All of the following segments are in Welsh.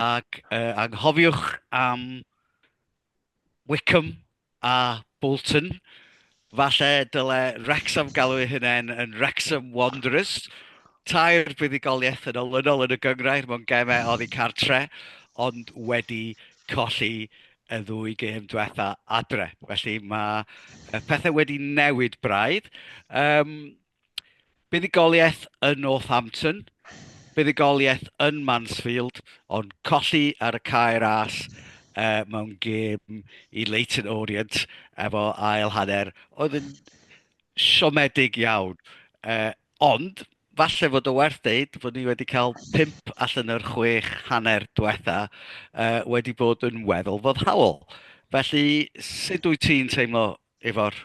Ac yy anghofiwch am Wycombe a Bolton. Falle dyle Wrecsam galw ei hunain yn Wrecsam Wanderers. Tair buddugoliaeth yn olynol yn y gyngrair mewn gemau oddi cartre, ond wedi colli y ddwy gêm diwetha adre. Felly mae pethau wedi newid braidd. Um, Buddugoliaeth yn Northampton, buddugoliaeth yn Mansfield, ond colli ar y cae ras uh, mewn gêm i Leighton Orient efo ail hanner oedd yn siomedig iawn. Uh, ond, falle fod o werth deud fod ni wedi cael pimp allan o'r chwech hanner diwetha uh, wedi bod yn weddol foddhaol. Felly, sut wyt ti'n teimlo efo'r...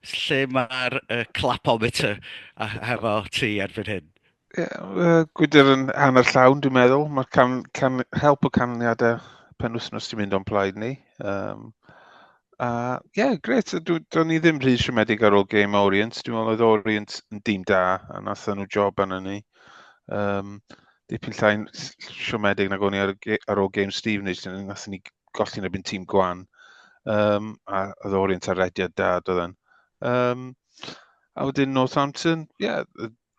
lle mae'r uh, clapometer a hefo ti erbyn hyn? Yeah, Gwydr yn hanner llawn, dwi'n meddwl. Mae can, can, help o canlyniadau pen wythnos ti'n mynd o'n plaid ni. Um, a ie, yeah, gret. Do'n ni ddim rhy siomedig ar ôl game Orient. Dwi'n meddwl oedd Orient yn dim da, a nath nhw job arno ni. Um, dipyn llain siomedig nag o'n i ar, ar ôl game Stevenage, nath ni golli yn erbyn tîm gwan. Um, a oedd o'r un tarediad da, doedd yn. Um, a wedyn Northampton, ie, yeah,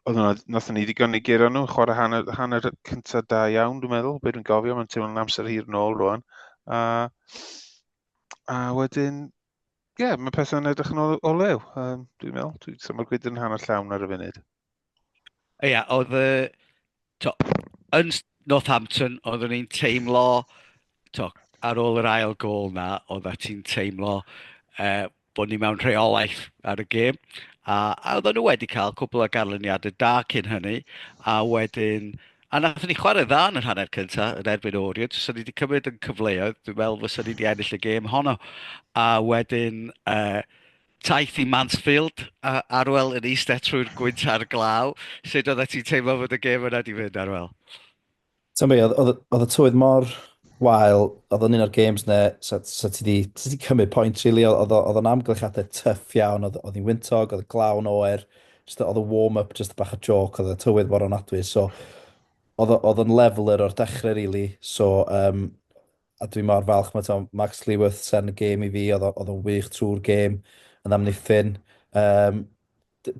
oedd yna, nath ni ddigon i gyrra nhw, chwarae hanner, hanner cyntaf da iawn, dwi'n meddwl, beth dwi'n gofio, mae'n teimlo'n amser hir nôl rwan. A, a wedyn, Ie, yeah, mae pethau'n edrych yn o, o lew, um, dwi'n meddwl. Dwi'n symud gwyd yn hanner llawn ar y funud. Ie, yeah, oedd y... To, yn Northampton, oeddwn i'n teimlo... To, ar ôl yr ail gol na, oedd a ti'n teimlo uh, bod ni mewn rheolaeth ar y gêm. A, a oedden nhw wedi cael cwbl o garlyniadau da cyn hynny, a wedyn A nath ni chwarae dda yn yr hanner cynta yn erbyn Oriant, os o'n ni wedi cymryd yn cyfleoedd, dwi'n meddwl fysa ni wedi ennill y gêm honno. A wedyn, uh, taith i Mansfield, uh, Arwel yn eistedd trwy'r gwynt a'r glaw. Sut oedd ti'n teimlo fod y gêm yna di fynd, Arwel? Ti'n be, oedd y tywydd mor wael, oedd yn un o'r games ne, so, so ti wedi cymryd pwynt, really, oedd o'n amgylchiadau tyff iawn, oedd hi'n wyntog, oedd y glawn oer, Just oedd y warm-up just bach o joc, oedd y tywydd mor anadwy, so oedd yn leveler o'r dechrau, really. So, um, a dwi mor falch, mae to, Max Lewis sen y gêm i fi, oedd yn wych trwy'r gêm, yn amddiffyn. Um,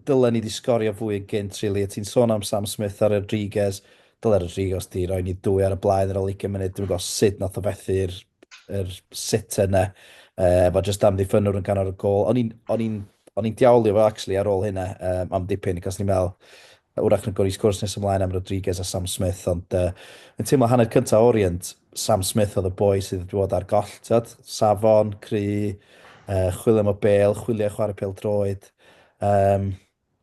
dylen ni wedi sgorio fwy yn gynt, really. A ti'n sôn am Sam Smith a Rodriguez, dylen Rodriguez di roi ni dwy ar y blaen ar ôl 20 munud, dwi'n gwybod sut nath o fethu'r yr sitter yna. Uh, mae jyst amddiffynwr yn ganol y gol. O'n i'n, o'n i'n, o'n i'n diawlio fo actually ar ôl hynna um, am dipyn, cos ni'n meddwl, wrach yn gwrs gwrs nes ymlaen am Rodriguez a Sam Smith, ond uh, yn teimlo hanner cyntaf Orient, Sam Smith oedd y boi sydd wedi bod ar goll, tyd, safon, cry, uh, chwilio am y bel, chwilio chwarae pel droed. Um,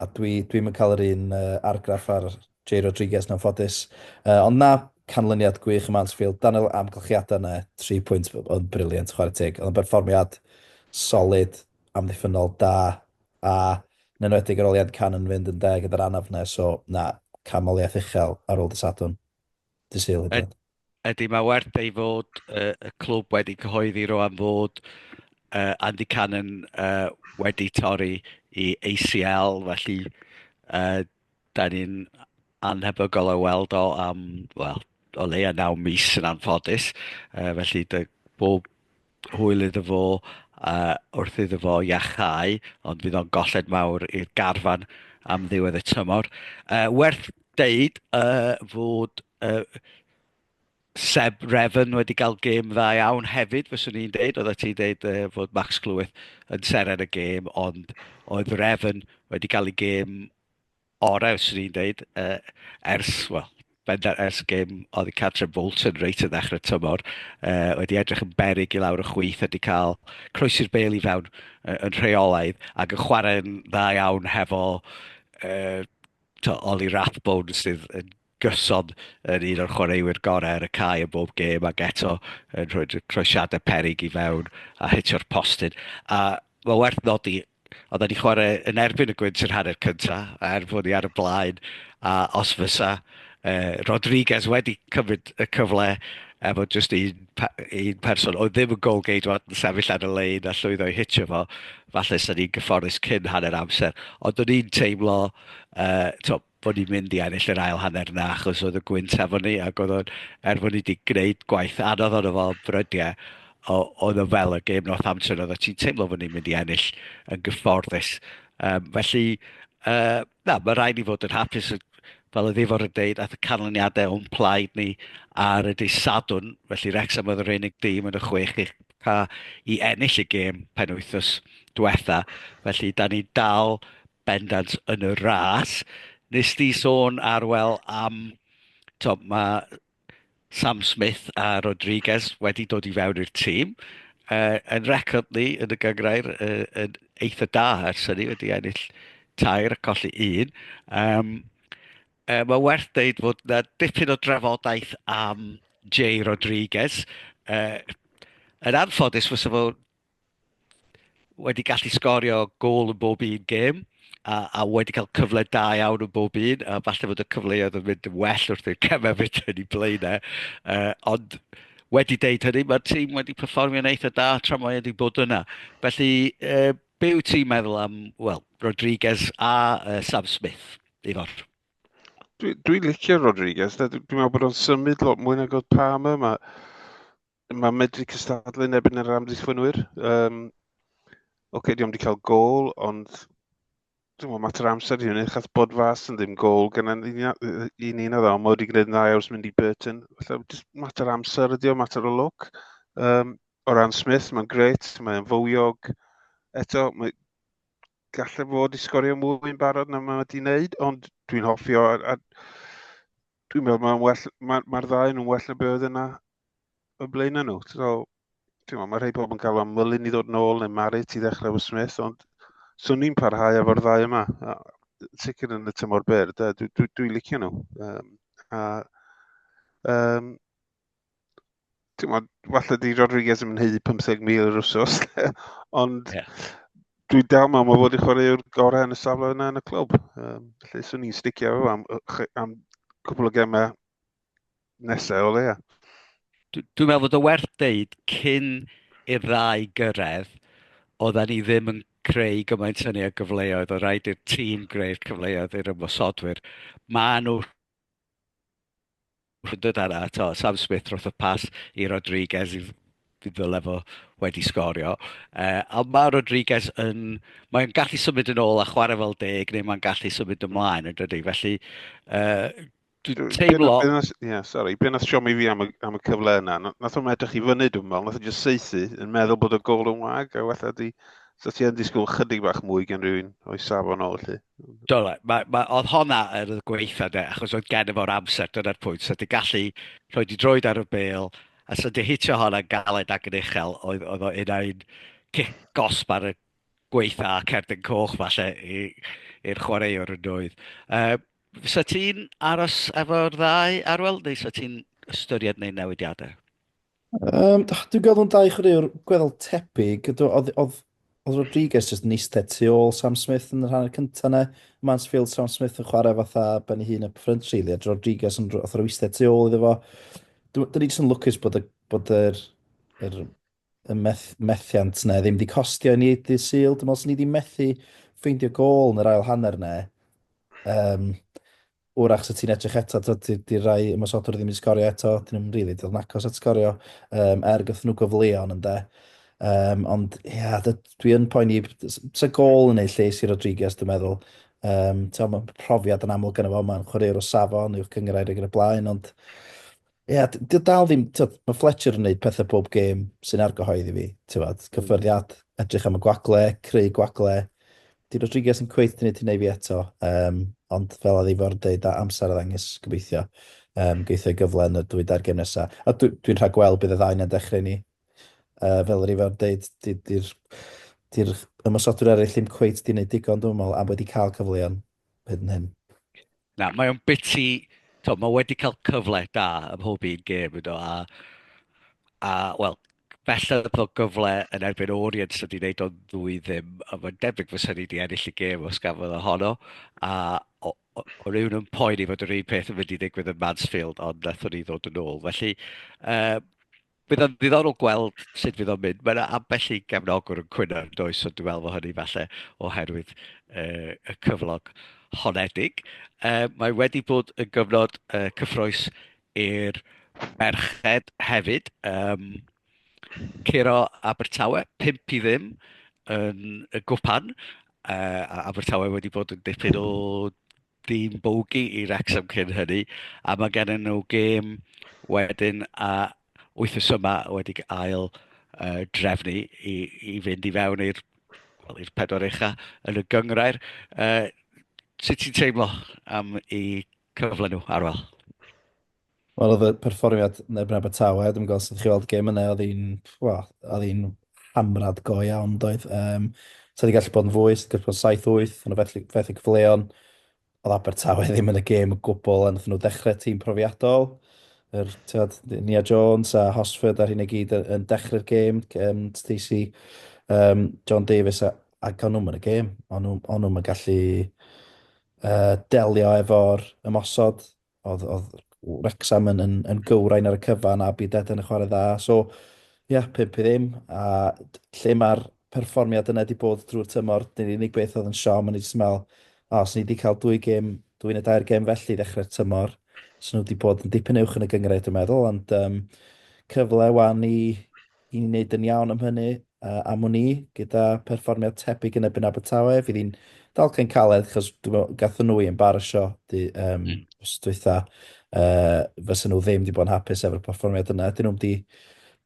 A dwi, dwi'm yn cael yr un uh, argraff ar Jay Rodriguez yn anffodus. Uh, ond na, canlyniad gwych ym Mansfield. Daniel, amgylchiadau yna, 3 pwynt oedd briliant, chwarae teg. Oedd yn berfformiad solid, amddiffynol, da, a yn enwedig ar ôl Ian Can yn fynd yn deg gyda'r anaf yna, so na, camoliaeth uchel ar ôl dysadwn. Dyseilid. Ydy, mae werth ei fod uh, y clwb wedi cyhoeddi roan fod uh, Andy Cannon uh, wedi torri i ACL, felly uh, da ni'n anhebygol o weld o am, wel, o leia naw mis yn anffodus. Uh, felly, dy, bob hwyl iddo fo uh, wrth iddo fo iachau, ond fydd o'n golled mawr i'r garfan am ddiwedd y tymor. Uh, werth deud uh, fod uh, Seb Refn wedi cael gêm dda iawn hefyd, fyswn i'n deud, oedd ti'n deud uh, fod Max Clwyth yn seren y gêm, ond oedd Refn wedi cael ei gêm orau, swn i'n dweud, uh, ers, wel, bendant ers gym oedd Catrin Bolton reit yn ddechrau tymor, uh, wedi edrych yn berig i lawr y chwyth a wedi cael croesi'r bel i fewn uh, yn rheolaidd ac yn chwarae'n dda iawn hefo uh, to, Oli Rathbone sydd yn gyson yn un o'r chwaraewyr gorau ar y cae yn bob gêm ac eto yn rhoi'r croesiadau peryg i fewn a hitio'r postyn. A mae werth nodi, oedd wedi chwarae yn erbyn y gwynt yr hanner cynta, a er bod ni ar y blaen, a os fysa uh, Rodriguez wedi cymryd y cyfle efo jyst un, un person oedd ddim yn gol geidwad yn sefyll ar y lein a llwyddo i hitio fo, falle sy'n ni'n gyfforddus cyn hanner amser. Ond o'n i'n teimlo, uh, to, bod ni'n mynd i ennill yr ail hanner yna achos oedd y gwynt efo ni ac oedd o'n, er bod ni wedi gwneud gwaith anodd ond efo brydiau, oedd o fel y gêm North Amser oedd o ti'n teimlo bod ni'n mynd i ennill yn gyfforddus. Um, felly, uh, na, mae rhaid ni fod yn hapus fel y ddifor yn deud, ath y canlyniadau o'n plaid ni ar y dydd Sadwn, felly Rexham oedd yr unig dîm yn y chwech i, i ennill y gêm pen wythnos diwetha. Felly, da ni dal bendant yn y ras. Nes di sôn arwel am, to, mae Sam Smith a Rodriguez wedi dod i fewn i'r tîm. Uh, yn record ni yn y gyngrair uh, yn eitha da ers hynny, wedi ennill tair a colli un. Um, uh, mae werth dweud fod na dipyn o drafodaeth am Jay Rodriguez. Uh, yn anffodus, fysa fo wedi gallu sgorio gol yn bob un gêm, a, a wedi cael cyfle da iawn yn bob un, a falle bod y cyfleoedd yn mynd yn well wrth i'r cemau fynd yn ei blaenau. Uh, ond wedi deud hynny, mae'r tîm wedi perfformio'n eitha da tra mae wedi bod yna. Felly, uh, be wyt ti'n meddwl am, wel, Rodriguez a uh, Sam Smith, Ifor? Dwi'n dwi licio Rodriguez, dwi'n meddwl bod o'n symud lot mwy nag oedd Palmer. Mae Mae medru cystadlu yn ebyn yr amddiffynwyr. Um, Oce, okay, diolch wedi cael gol, ond dwi'n meddwl mater amser i hynny, chas bod fas yn ddim gol gan un un oedd o'n wedi gwneud yn dda iawn mynd i Burton. Felly, just mater amser ydi o, mater o look. Um, o ran Smith, mae'n gret, mae'n fywiog. Eto, mae gallu fod i sgorio mwy yn barod na mae wedi wneud, ond dwi'n hoffi o. A, a, Dwi'n meddwl mae'n well, mae'r ma ddau yn well na beth oedd yna y blaen nhw. So, ti'n meddwl, mae rhai pobl yn cael am mylun i ddod nôl neu Marit i ddechrau fy Smith, ond swn i'n parhau efo'r ddau yma. A, sicr yn y tymor byr, dwi'n dwi, dwi licio nhw. Um, a, um, ti'n gwybod, falle di Rodriguez yn hyd 50,000 yr wsos, ond yeah. dwi dal mewn mae fod i chwarae yw'r gorau yn y safle yna yn y clwb. Um, lle swn ni'n sticio efo am, am cwbl o gemau nesau o leia. Dwi'n meddwl bod o werth deud cyn i'r ddau gyrraedd, oedden ni ddim yn creu gymaint hynny o gyfleoedd, o rhaid i'r tîm greu'r cyfleoedd i'r ymwysodwyr. Mae nhw Wrth ddod â 'na, tibod, Sam Smith rothodd pas i Rodriguez i ddyle fo wedi sgorio. Uh, a mae Rodriguez yn... Mae'n gallu symud yn ôl a chwarae fel deg, neu mae'n gallu symud ymlaen yn dydy. Felly, uh, dwi'n teimlo... Ie, yeah, sori, beth nath siomi fi am y, am y cyfle yna? Nath o'n edrych i fyny, dwi'n meddwl, nath o'n just seithi, yn meddwl bod y gol yn wag, a wella di... So ti yn disgwyl chydig bach mwy gen rhywun o'i safon o, felly? Do, mae, mae, oedd honna yr oedd gweitha de, achos oedd gen i fo'r amser, dyna'r pwynt. So, di gallu rhoi di droed ar y bel, a so di hitio honna galed ac yn uchel, oedd, oedd o un ai'n cic gosb ar y gweitha a cerdyn coch falle i'r chwaraewr yn doedd. Uh, so ti'n aros efo'r ddau arwel, neu so ti'n ystyried neu newidiadau? Yym, d- dwi'n gweld nhw'n dau chwaraewr gweddol tebyg. Do- Oedd, oedd, oedd Rodriguez jyst yn eistedd tu ôl Sam Smith yn yr hanner cyntaf yna. Mansfield, Sam Smith yn chwarae fatha ben ei hun up front really, a Rodriguez yn rh- fatha rhyw eistedd tu ôl iddo fo. Dw- Dyn ni jyst yn lwcus bod y, bod yr, yr, y meth, methiant yna ddim wedi costio i ni dydd Sul. Dwi'n meddwl sy'n ni wedi methu ffeindio gol yn yr ail hanner yna. Um, Wrach 'sa ti'n edrych eto, tibod, 'di 'di rai ymosodwr ddim 'di sgorio eto, 'dyn nhw'm rili 'di dod yn agos at sgorio, um, er gyda nhw gyfleon ynde. Um, ond ia, yeah, dwi yn poeni, sa gol yn ei lles i Rodriguez, dwi'n meddwl. Um, Mae profiad yn amlwg yn y fo, mae'n chwaraewr o safon, yw'r cyngrair ag yn y blaen, ond Ie, d- dio dal ddim, tywed, mae Fletcher yn gwneud pethau pob gêm sy'n argyhoedd i fi, tywed, Mm. cyffyrddiad, edrych am y gwagle, creu gwagle. Di Rodriguez yn cweith gwneud hynna i fi eto, um, ond fel a ddifor dweud, a amser a ddangos gobeithio, um, geithio ei gyfle yn y dwy dair gêm nesaf. A dwi, dwi'n rhaid gweld bydd y ddau na'n dechrau ni. Uh, fel yr ifor dweud, di'r di, di, di ymwysodwyr eraill ddim cweith di wneud digon dwi'n meddwl, a wedi cael cyfleon. Byd nym. Na, mae o'n biti... To, mae wedi cael cyfle da ym mhob un gêm, you know, a, a wel, belled o gyfle yn erbyn Orient sydd wedi gwneud o'n ddwy ddim, a mae'n debyg fy syni wedi ennill y gêm os gafodd ohono, a o, o, o rywun yn poen i fod yr un peth yn mynd i ddigwydd yn Mansfield, ond nathon ni ddod yn ôl. Felly, uh, Bydd o'n ddiddorol gweld sut fydd o'n mynd. Mae yna ambell i gefnogwr yn cwyno yn does, so dwi'n meddwl fod hynny falle oherwydd uh, y cyflog honedig. Uh, mae wedi bod yn gyfnod uh, cyffroes i'r merched hefyd. Um, Ciro Abertawe, 5 i ddim yn y gwpan. Uh, Abertawe wedi bod yn dipyn o dîm bogey i Wrexham cyn hynny, a mae gen nhw gêm wedyn a wythnos yma wedi ail uh, drefnu i, i fynd i fewn i'r well, i'r pedwar ucha yn y gyngrair. Uh, sut ti'n teimlo am i cyfle nhw, Arwel? Wel oedd y perfformiad yn erbyn Abertawe, dwi'm yn gweld sut chi weld y gêm yna, oedd hi'n, wel, oedd hi'n hamrad go iawn, doedd. Um, so wedi gallu bod yn fwy, sydd wedi bod yn 7-8, yn y fethu, fethu cyfleon. Oedd Abertawe ddim yn y gêm y gwbl, a nath nhw dechrau tîm profiadol. Yr, tiod, Nia Jones a Hosford ar hyn i gyd yn dechrau'r gêm, um, Stacey, um, John Davies, a, a gawn nhw'n y gêm. Ond nhw'n gallu uh, delio efo'r ymosod oedd, oedd Wrexham yn, yn, yn gywrain ar y cyfan a byd Eden yn chwarae dda. So, ia, yeah, pimp i ddim. A lle mae'r perfformiad yna wedi bod drwy'r tymor, dyn ni'n unig beth oedd yn siom, ond ni'n meddwl, o, os ni wedi cael dwy gêm, dwy'n y dair gêm felly ddechrau'r tymor, so nhw wedi bod yn dipyn uwch yn y gyngred, dwi'n meddwl, ond um, cyfle wan i, I ni wneud yn iawn am hynny, a am wn i, gyda pherfformiad tebyg yn erbyn Abertawe, fydd hi'n dalcen caled, achos dwi'n meddwl, gatho nhw i embarasio di, um, mm. os dwytha, uh, fysa nhw ddim wedi bod yn hapus efo'r perfformiad yna. Dyn nhw'n wedi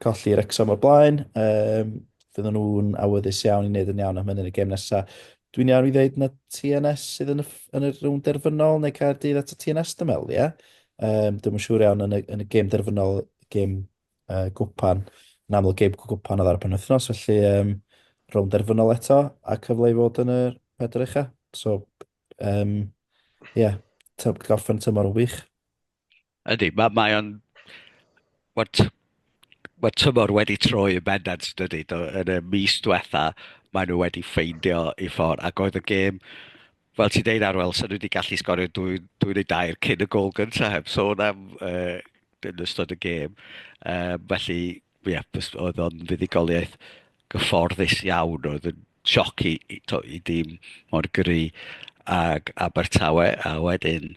colli Rexham o'r blaen, um, fydden nhw'n awyddus iawn i wneud yn iawn am hynny yn y gem nesaf. Dwi'n iawn i ddeud na TNS sydd yn y, yn y rhwng derfynol neu cael dydd at y TNS dymel, ie? Yeah? Um, dwi'n siŵr iawn yn y, yn y gem derfynol, gem uh, gwpan. Yn aml gêm gwpan oedd ar y penwythnos, felly um, rownd derfynol eto a cyfle i fod yn y pedr eich So, um, yeah, gorffen tymor o wych. Ydy, mae ma o'n... Mae tymor wedi troi yn bendant, dydy. Yn y mis diwetha, maen nhw wedi ffeindio i ffordd. Ac oedd y gêm, fel ti'n deud Arwel, sy'n wedi gallu sgorio dwy, dwy neu dair cyn y gol gyntaf heb sôn am uh, yn ystod y gêm. Um, felly, ie, yeah, oedd o'n fuddugoliaeth gyfforddus iawn, oedd yn sioc i, i, to, i dîm mor gry ag Abertawe, a wedyn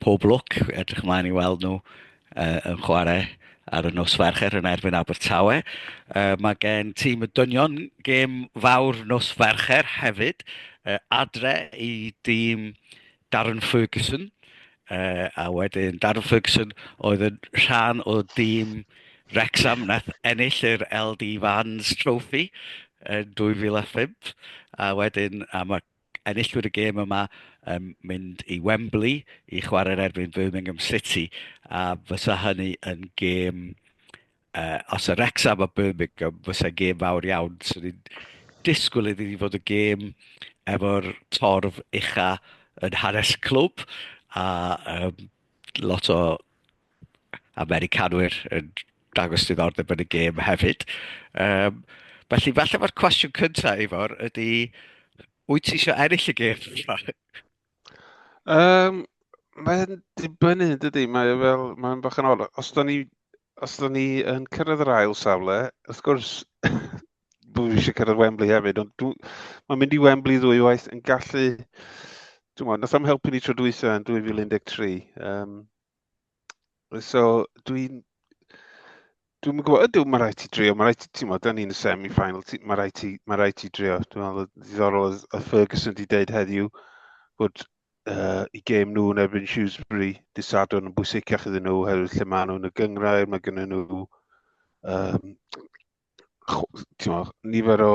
pob lwc, edrych ymlaen i weld nhw uh, yn chwarae ar y nos fercher yn erbyn Abertawe. Uh, mae gen tîm y dynion gêm fawr nos fercher hefyd, uh, adre i dîm Darren Ferguson, uh, a wedyn Darren Ferguson oedd yn rhan o dîm Wrexham nath ennill yr LD Vans Trophy yn 2005, a wedyn a mae enillwyr y gêm yma yn mynd i Wembley i chwarae'r erbyn Birmingham City, a fysa hynny yn gêm uh, os yr Wrexham a Birmingham fysa gêm fawr iawn, so ni'n disgwyl iddi ni fod y gêm efo'r torf ucha yn hanes clwb a um, lot o Americanwyr yn dangos diddordeb yn y gêm hefyd. Um, felly, falle mae'r cwestiwn cyntaf, Ifor, ydy, wyt ti eisiau ennill y gêm? Um, mae'n dibynnu, dydy, mae fel, mae'n bach yn ol. Os da ni, os da ni yn cyrraedd yr ail safle, wrth gwrs, dwi eisiau cyrraedd Wembley hefyd, ond dwi, mae'n mynd i Wembley ddwy waith yn gallu, dwi'n meddwl, nath am helpu ni tro dwytha yn 2013. Um, So, dwi'n... Dwi'n yn gwybod, ydw, mae rhaid ti drio, mae rhaid ti, ti'n modd, ni'n y semi-final, mae rhaid ti, mae rhaid ti drio. Dwi'n meddwl, ddiddorol oedd y Ferguson wedi dweud heddiw bod uh, i gêm nhw yn erbyn Shrewsbury, disadwn yn bwysicach iddyn nhw, oherwydd lle maen nhw'n y gyngrair, mae gen nhw um, timo, nifer o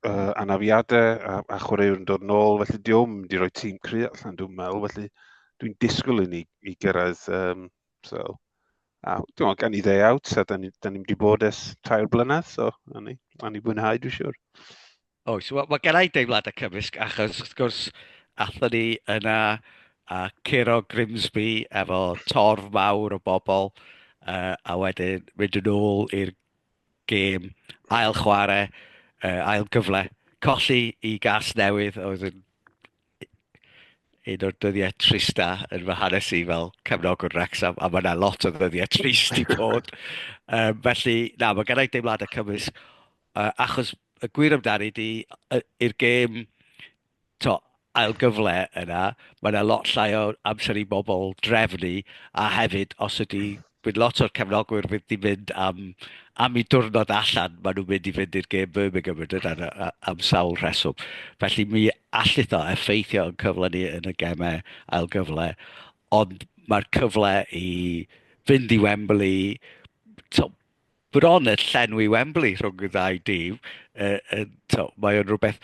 uh, anafiadau a, a chwaraewr yn dod nôl, felly diolch mynd i roi tîm cry allan, dwi'n meddwl, felly dwi'n disgwyl i ni i gyrraedd um, so. A dwi'n gan i ddeu out, a da ni'n ni, ni wedi bod ers tair blynedd, so a ni, a ni fwynhau, dwi'n siwr. Oes, wel mae gennau deimlad y cymysg achos wrth gwrs athyn ni yna a curo Grimsby efo torf mawr o bobl uh, a wedyn mynd yn ôl i'r gêm ail chwarae, uh, ail gyfle, colli i gas newydd oedd yn un o'r dyddiau trista yn fy hanes i fel cefnogwr Wrexham, a mae yna lot o ddyddiau trist i bod. um, felly, na, mae gennau deimladau cymwys, uh, achos y gwir amdani di, i'r gêm, to, ail gyfle yna, mae yna lot llai o amser i bobl drefnu, a hefyd, os ydy Bydd lot o'r cefnogwyr fydd di mynd am, am i diwrnod allan, maen nhw'n mynd i fynd i'r gêm Birmingham yn dydyn am sawl rheswm. Felly mi allith o effeithio yn cyfle ni yn y gemau ail gyfle, ond mae'r cyfle i fynd i Wembley, to, bron y llenwi Wembley rhwng y ddau dîm, uh, uh, to, mae o'n rhywbeth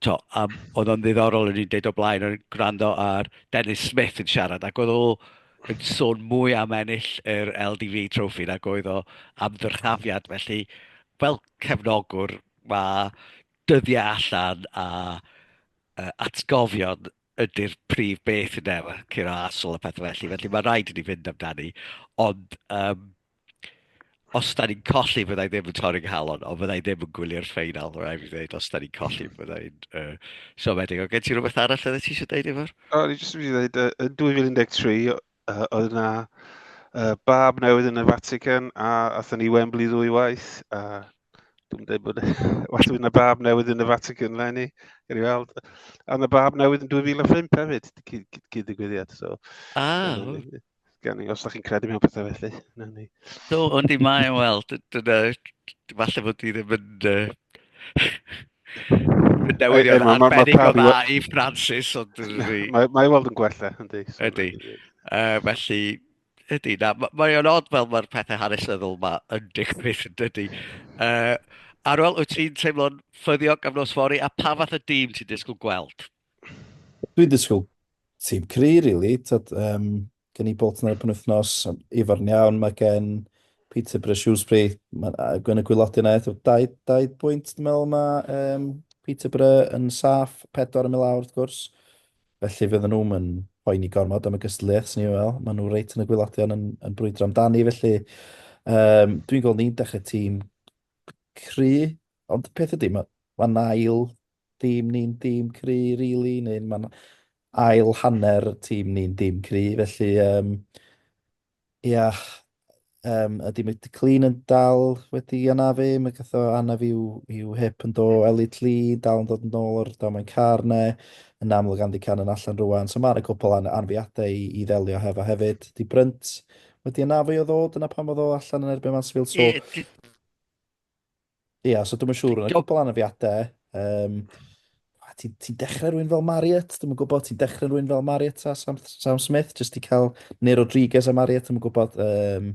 to, um, oedd o'n ddiddorol yn i'n deud o blaen yn gwrando ar Dennis Smith yn siarad ac oedd o yn sôn mwy am ennill yr LDV trofi nag oedd o am ddyrchafiad. Felly, fel cefnogwr, mae dyddiau allan a uh, atgofion ydy'r prif beth yn efe, curo asol a pethau felly. Felly mae rhaid i ni fynd amdani. Ond um, os da ni'n colli, fydda i ddim yn torri nghalon, ond fydda i ddim yn gwylio'r ffeinal, rhaid i fi ddweud, os da ni'n colli, fydda i'n uh, siomedig. Ond gen ti rhywbeth arall oedd ti eisiau dweud efo'r? O, ni jyst yn mynd i ddweud, uh, yn 2013, uh, oedd yna uh, bab newydd yn y Vatican, a athyn ni Wembley ddwy waith, a dwi'n dweud bod, well, yna bab newydd yn y Vatican, le ni, gyrru weld. A yna bab newydd yn 2005 hefyd, cyd-digwyddiad, so. Ah, Gan i, os da chi'n credu mewn pethau felly, na ni. Do, ond i mae, wel, dyna, falle bod ti ddim yn... Yn newyddion arbennig o dda i Francis, ond... Mae weld yn gwella, yndi. Yndi. Felly, ydy, na, mae o'n odd fel mae'r pethau hanesyddol yma yn digwydd, ydy. Uh, Arwel, wyt ti'n teimlo'n ffyddiog am nos fori a pa fath y dîm ti'n disgwyl gweld? Dwi'n disgwyl tîm cry, really. Tyd, um, gen i Bolton ar y penwythnos, efo'r iawn, mae gen Peterborough Shrewsbury, mae gen y gwylodyn aeth o 20 bwynt, dwi'n meddwl, mae um, Peterborough yn saff, pedwar yn mynd lawr, wrth gwrs. Felly fydden nhw'n yn poeni gormod am y gystadleuaeth, sy'n ni'n meddwl. Maen nhw reit yn y gwylodion yn, yn brwydro amdani, felly um, dwi'n gweld ni'n dechrau tîm cry, ond peth ydy, mae ma nail Tîm ni'n dîm cry rili, neu mae'n ail hanner tîm ni'n dîm cry, felly um, ia, um, ydy Mick de Clean yn dal wedi anafu, mae gath o anaf i'w, i'w hip yn do, Elliot Lee dal yn dod yn ôl o'r domen car ne, yn amlwg Andy Can yn allan rwan, so mae yna cwpl an anfiadau i, i ddelio hefo hefyd. Di Brynt wedi anafu o ddod, yna pan fod o allan yn erbyn Mansfield, so... Ia, so dwi'm yn siŵr, yn y cwbl anafiadau, um, ti'n ti dechrau rhywun fel Marriott, dwi'n yn gwybod, ti'n dechrau rhywun fel Marriott a Sam, Sam Smith, jyst i cael, neu Rodriguez a Marriott, dwi'n yn gwybod, um,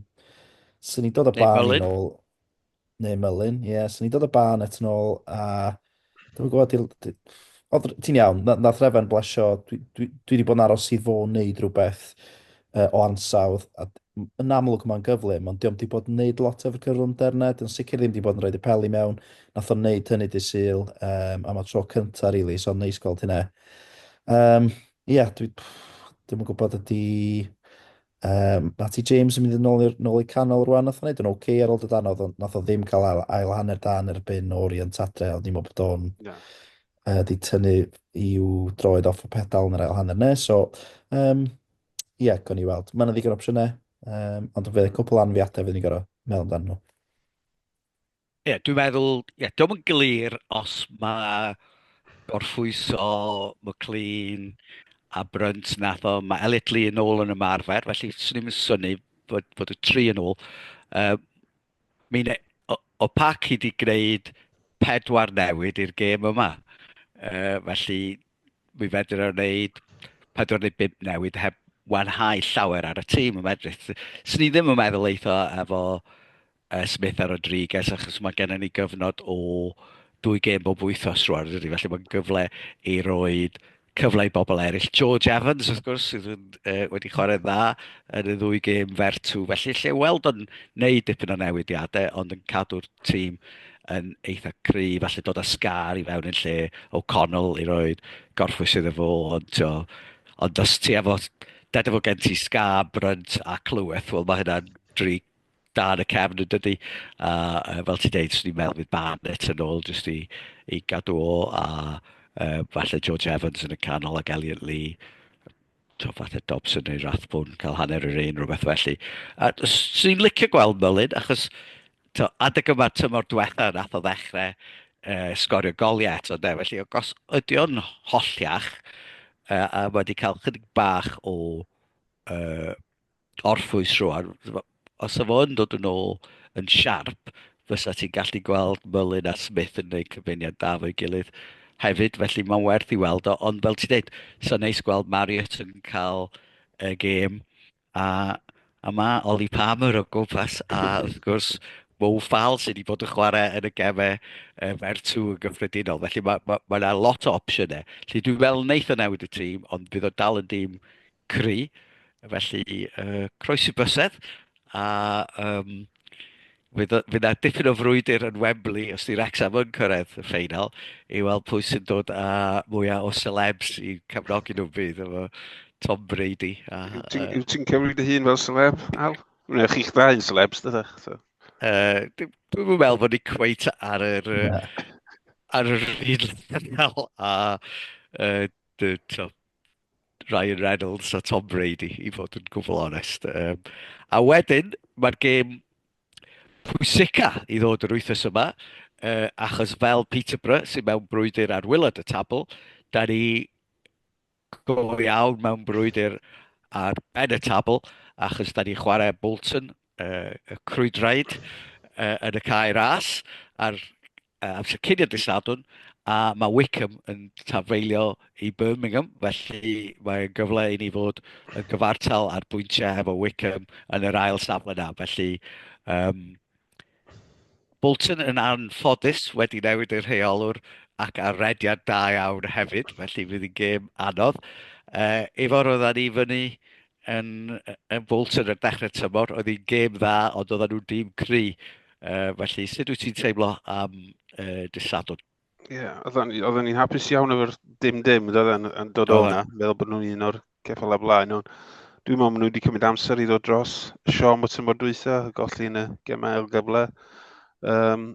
sy'n ni dod o barn yn ôl, neu Mullin, ie, yeah, sy'n ni dod o barn et yn ôl, a Dwi'n gwybod, di- di- oedd r- ti'n iawn, na- nath Refan blesio, dwi, dwi, dwi wedi bod yn aros i fo wneud rhywbeth uh, o ansawdd, a d- m- yn amlwg mae'n gyflym, ond diolch wedi bod yn wneud lot efo'r cyflymder yna, dwi'n sicr ddim wedi bod yn rhoi y peli mewn, nath o'n wneud hynny dy syl, um, am y tro cynta, rili, really, so'n neis gweld hynna. Um, Ie, yeah, dwi, pff, dwi'm yn gwybod ydy Yym, Matty James yn mynd yn ôl, nôl i canol rwan, nath o'n neud yn oce okay ar ôl dod anodd, ond nath o ddim cael ail, ail hanner da yn erbyn o'r Ian Tadre, ond ni'n meddwl bod o'n yeah. uh, di tynnu i'w droed off y pedal yn yr ail hanner ne, so, um, ie, yeah, gwn i weld. Mae'n ddigon opsiynau, um, ond fe cwpl anfiadau fydd ni'n gorau meddwl amdano nhw. Ie, dwi'n meddwl, ie, diolch yn glir os mae gorffwyso McLean a Brunt nath o, mae Elliot Lee yn ôl yn ymarfer, felly swn i'n syni fod, fod y tri yn ôl. Uh, Mine, o, o pac i wedi gwneud pedwar newid i'r gêm yma. Uh, felly, mi fedr o'n wneud pedwar neu bimp newid heb wanhau llawer ar y tîm yn medru. Swn i ddim yn meddwl eitho efo Smith a Rodriguez achos mae gennym ni gyfnod o dwy gêm bob wythnos rwan yn dydi? Felly mae'n gyfle i roi cyfle i bobl eraill. George Evans wrth gwrs sydd yn, e, wedi chwarae dda yn y ddwy gêm fertw felly lle weld o'n neud dipyn o newidiadau ond yn cadw'r tîm yn eitha cry falle dod â sgar i fewn yn lle o Connell i roi gorffwys iddo fo ond tio, ond os ti efo deda fo gen ti sgar, Brunt a Clyweth wel mae hynna'n dri dan y cefn yn dydy. A uh, fel ti'n deud, swn i'n meddwl bydd Barnett yn ôl jyst i, i gadw o a uh, falle George Evans yn y canol ac Elliot Lee to falle Dobson neu Rathbone cael hanner yr un rhywbeth felly. A swn i'n licio gweld Mullin achos to, adeg yma tymor diwetha nath o ddechrau uh, sgorio goliau eto de. Felly o gos ydy o'n hollach uh, a wedi cael chydig bach o uh, orffwys rwan. Os o fo'n dod yn ôl yn siarp, fysa ti'n gallu gweld Mullin a Smith yn gwneud cyfuniad da fo'i gilydd hefyd, felly mae'n werth i weld o. Ond fel ti'n dweud, so neis gweld Marius yn cael y gêm, a, a mae Ollie Palmer o gwmpas, a wrth gwrs Mo Fall sydd wedi bod yn chwarae yn y gemau e, fer tŵ yn gyffredinol. Felly mae yna ma, ma lot o opsiynau. Felly dwi'n meddwl wneud o newid y tîm, ond bydd o dal yn dîm cry, felly uh, croesi bysedd, a um, fydd yna dipyn o frwydr yn Wembley os di Wrexham yn cyrraedd y ffeinal i weld pwy sy'n dod â mwyaf o celebs i cefnogi nhw bydd efo Tom Brady. A, yw ti'n cymryd dy hun fel celeb, Al? Neu chi'ch dda yn celebs, dydych? So. Uh, Dwi'n meddwl bod ni cweit ar yr, ar yr un lefel a uh, Ryan Reynolds a Tom Brady, i fod yn gwbl onest. Um, a wedyn, mae'r gêm pwysica i ddod yr wythnos yma, uh, achos fel Peterborough sy'n mewn brwydr ar wylad y tabl, da ni go iawn mewn brwydr ar ben y tabl, achos da ni chwarae Bolton, uh, y crwydraid, uh, yn y cae ras, a'r uh, amser cyn i'r dysadwn, a mae Wickham yn tafeilio i Birmingham, felly mae'n gyfle i ni fod yn gyfartal ar bwyntiau hefo Wickham yn yr ail safle na, felly um, Bolton yn anffodus wedi newid y rheolwr ac ar rediad da iawn hefyd, felly fydd hi'n gêm anodd. Uh, efo roedda ni fyny yn yn Wolves yn y dechrau tymor. Oedd hi'n gêm dda, ond oedd nhw'n dîm cry. Uh, felly, sut wyt ti'n teimlo am uh, disadwn? Ie, yeah, oedden ni'n hapus iawn efo'r dim-dim, oedden yn dod o'na, meddwl bod nhw'n un o'r ceffal a blaen. Ond dwi'n meddwl maen nhw wedi cymryd amser i ddod dros y siom o tymor dwytha, y golli yn y gemau ail gyfle. Um,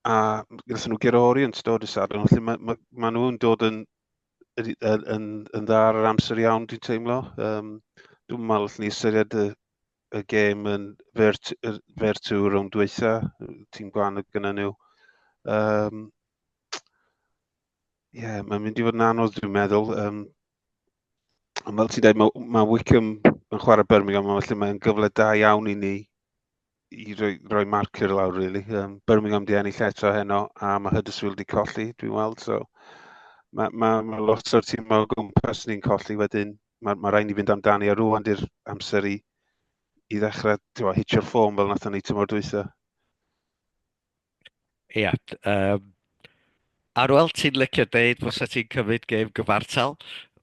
a gyda nhw Gerori yn stod y sadwn, felly mae, mae, mae nhw'n dod yn yn, yn, yn dda ar yr amser iawn, dwi'n teimlo. Um, dwi'n meddwl allwn ni ystyried y, y gêm yn fer, fer tu rhwng dweitha, tîm gwan y gyda nhw. Um, Ie, yeah, mae'n mynd i fod yn anodd, dwi'n meddwl. Um, ond fel ti'n dweud, mae, mae Wickham yn chwarae Birmingham, felly mae'n gyfle da iawn i ni i roi, roi marker lawr, really. Um, Birmingham di ennill eto heno, a mae Huddersfield di colli, dwi'n weld. So, mae ma, ma lot o'r tîm o gwmpas ni'n colli wedyn. Mae ma rhaid ni fynd amdani, a rwan di'r amser i, i ddechrau hitio'r ffôn fel nath ni tymor dwytha. Ia, um, Arwel, ti'n licio deud fos o ti'n cymryd gêm gyfartal?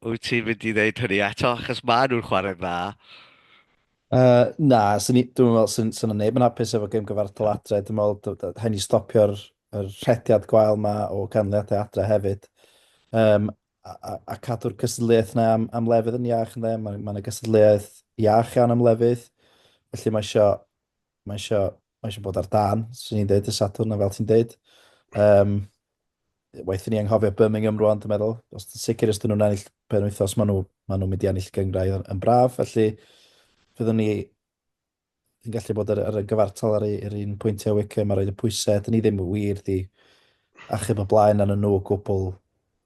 Wyt ti'n mynd i ddeud hynny eto, achos maen nhw'n chwarae dda. Uh, na, sy'n ni, dwi'n meddwl sy'n syn neb yn hapus efo gêm gyfartal adre. Dwi'n meddwl hen i stopio'r er rhediad gwael yma o ganlyniadau adre hefyd. Um, a, a, a cadw'r cystadleuaeth yna am, am lefydd yn iach ynddo. Mae, mae yna gystadleuaeth iach iawn am lefydd. Felly mae eisiau, mae eisiau Mae eisiau bod ar dan, sy'n ni'n dweud, y Sadwrn yn fel ti'n dweud. Um, waith ni anghofio Birmingham rwan, dwi'n meddwl. Os ti'n sicr ysdyn nhw'n ennill pen wythos, maen nhw, ma nhw mynd i ennill gyngrau yn, yn braf. Felly, fyddwn ni yn gallu bod ar, ar y gyfartal ar yr un pwyntiau Wickham a roed y pwysau. Dyn ni ddim wir di achub y blaen yn y nhw o gwbl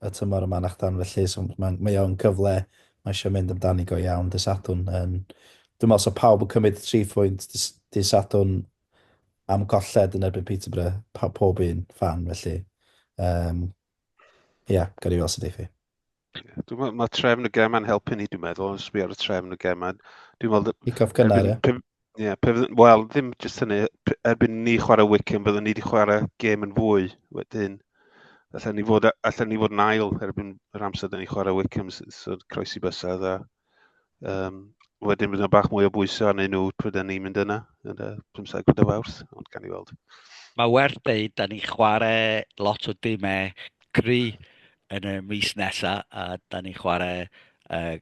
y tymor yma na'ch dan felly so mae'n mae o'n cyfle mae eisiau mynd amdani go iawn dy Sadwn yn dwi'n meddwl so pawb yn cymryd y tri phwynt dy Sadwn am colled yn erbyn Peterborough pa, pob un fan felly um, ia yeah, gawn ni weld sy'n deithi Dwi'n mae trefn y gemau'n helpu ni, dwi'n meddwl, yn sbio ar y trefn y gemau. Dwi'n meddwl... Pick-off gynnar, ie? Ie, pe fydde- wel, ddim jyst hynny, p- erbyn ni chwarae Wycombe, byddwn ni wedi chwarae gêm yn fwy wedyn. Allan ni fod, allan ni fod yn ail erbyn yr amser da ni chwarae Wycombe, s- so croesi bysedd a um, wedyn bydd yna bach mwy o bwysau arnyn nhw pryd ni'n mynd yna, yn y 15 o fawrth, ond gan i weld. Mae werth dweud, da ni chwarae lot o dimau cry yn y mis nesaf, a da ni chwarae uh,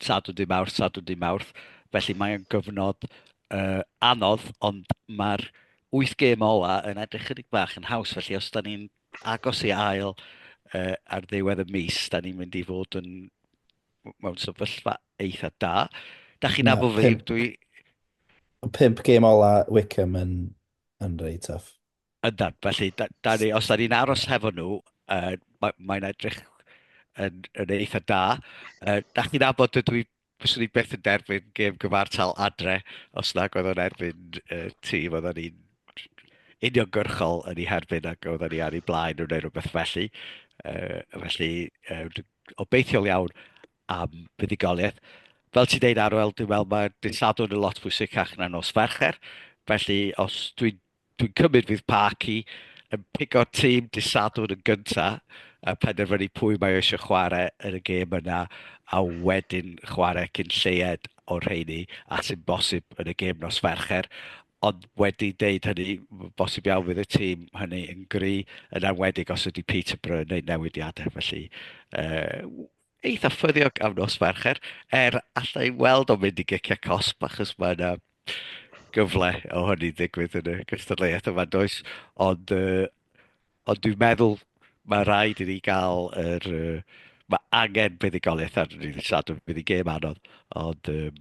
Sadwrn, Dydd Mawrth, Sadwrn, Dydd Mawrth. Felly mae o'n gyfnod uh, anodd, ond mae'r wyth gêm ola yn edrych chydig bach yn haws. Felly os da ni'n agos i ail uh, ar ddiwedd y mis, da ni'n mynd i fod yn mewn sefyllfa eitha da. Da chi'n abo fi, dwi... Pimp gêm ola Wickham yn, yn rei tough. Yndan, felly, da, da ni, os da ni'n aros hefo nhw, uh, mae'n mae edrych yn, yn eitha da. Uh, da chi'n abod dydw i, fyswn i beth yn derbyn gêm gyfartal adre, os na oedd o'n erbyn uh, tîm oedden ni'n uniongyrchol yn ei herbyn ac oedden ni ar ei blaen nhw neu rhywbeth felly. Uh, felly, uh, obeithiol iawn am fuddugoliaeth. Fel ti'n deud Arwel, dwi'n meddwl mae dydd Sadwrn yn lot fwy sicach na nos Fercher, felly os dwi'n Dwi'n cymryd fydd Parky yn pigo'r tîm dydd Sadwrn yn gyntaf a penderfynu pwy mae o eisiau chwarae yn y gêm yna a wedyn chwarae cyn lleied o'r rheini a sy'n bosib yn y gêm nos Fercher. Ond wedi deud hynny, bosib iawn fydd y tîm hynny yn gry, yn enwedig os ydy Peterborough yn wneud newidiadau. Felly, uh, eitha ffyddiog am nos Fercher, er allai weld o'n mynd i giciau cosb, achos mae yna gyfle o hynny ddigwydd yn y gystadleuaeth yma, does? Ond, uh, ond dwi'n meddwl mae rhaid i ni gael yr... Uh, mae angen buddigoliaeth ar ni ddydd Sadwrn, bydd i gêm anodd, ond um,